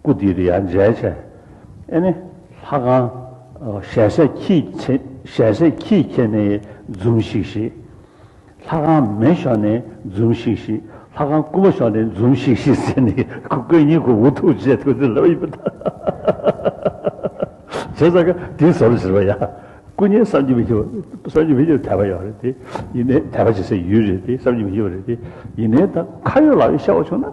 སྐུ་དེ་རི་ཡར་མཇལ་བྱས། ཨེ་ནི། ལྷ་ཁང། ཞལ་ཟས་ཁྱིས། ཞལ་ཟས་ཁྱིས་ཁྱེར་ནས་འཛུམ་ཤིག་ཤིག། ལྷ་ཁང་མེ་ཤོར་ནས་འཛུམ་ཤིག་ཤིག། ལྷ་ཁང་སྐུ་མ་ཤོར་ནས་འཛུམ་ཤིག་ཤིག་ཟེར་ནས་སྐུ་གཉིས་ཀྱི་འུ་ཐུག་བྱས་ཐུག་ཚེ་ལབ་ཡོད་པ་དང། བྱས་ཙང་དེ་ཟོར་ཟེར་བ་ཡང་སྐུ་གཉིས་བསམ་གྱི་མི་ཤེས་པ་བསམ་གྱི་མི་ཤེས་པ་དད་པ་ཡོད་རེད་དེ། ཡིན་ནའི་དད་པ་བྱེད་སའི་ཡུལ་རེད་དེ་བསམ་གྱི་མི་ཤེས་པ་རེད་དེ། ཡིན་ནའི་ད་ཁ་ཡོད་ལག་ཡོད་ཤར་བ་བྱུང་ན།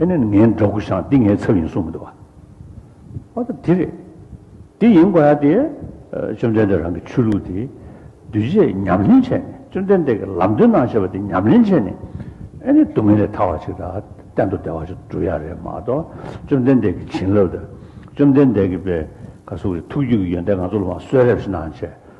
ཨེ་ནས་ངའི་འདྲ་སྐུ་ཞང་འདི་ངའི་ཚབ་ཡིན་གསུངས་མི་འདུག་བ། ཨོ་ད་དེ་རེད། དེ་ཡིན་དགོས་ཡ་དེ། བཅོམ་ལྡན་འདས་རང་གི་ཆོས་ལུགས་དེ། གདུལ་བྱས་ཉམས་ལེན་བྱས་ནས་བཅོམ་ལྡན་འདས་ཀྱི་ལམ་སྟོན་གནང་བྱས་པ་དེ་ཉམས་ལེན་བྱས་ནས། ཨེ་ནས་སྡུག་བསྔལ་ལས་ཐར་བ་ཞིག་དང་གཏན་དུ་བདེ་བ་ཞིག་འགྲུབ་ཡ་རེད་མ་གཏོགས་བཅོམ་ལྡན་འདས་ཀྱི་བྱིན་རླབས་དང། བཅོམ་ལྡན་འདས་ཀྱི་པད་དཀར་གཟུགས་ཀྱི་ཐུགས་རྒྱུད་ཀྱི་ཡོན་ཏན་ང་ཚོ་ལ་མ་གསོལ་རེ་བཞིན་གནང་བྱས།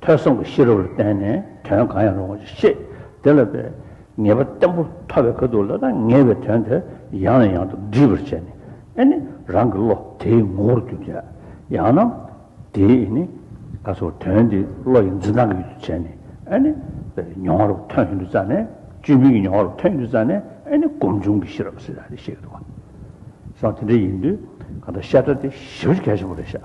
ཐོས་བསམ་གྱི་ཤེས་རབ་ལ་བརྟེན་ནས་དོན་གང་ཡང་རུང་བ་ཞིག་ཤེས། དེ་ལ་བའི་ངེས་པ་བརྟན་པོ་མཐོ་བའི་ཁ་ཐུག་ལ་ད་ངེས་པའི་དོན་དེ་ཡང་ནས་ཡང་དུ་འདྲིས་པར་བྱས་ནས་ཨེ་ནི་རང་གི་བློ་དེའི་ངོ་བོར་གྱུར་ཅིག། ཡང་ན། དེ་ཨེ་ནི། ད་གཟོད་དོན་དེ་བློ་ཡི་འཛིན་སྟངས་ཀྱི་ཡུལ་དུ་བྱས་ནས་ཨེ་ནི། བའི་མྱོང་བ་རུ་ཐོན་བཞིན་དུ་བཙལ་ནས་བཅོས་མིན་གྱི་མྱོང་བ་རུ་ཐོན་བཞིན་དུ་བཙལ་ནས་ཨེ་ནི་སྒོམ་བྱུང་གི་ཤེས་རབ་སྲིད་ལ་རེ་ཤེས་ཀྱི་འདུག་ག། སང་དེ་འདྲ་ཡིན་དུས་གང་ལྟར་བཤད་གྲྭ་དེ་ཞི་བར་གལ་ཆེན་པོ་རེད་ཤག།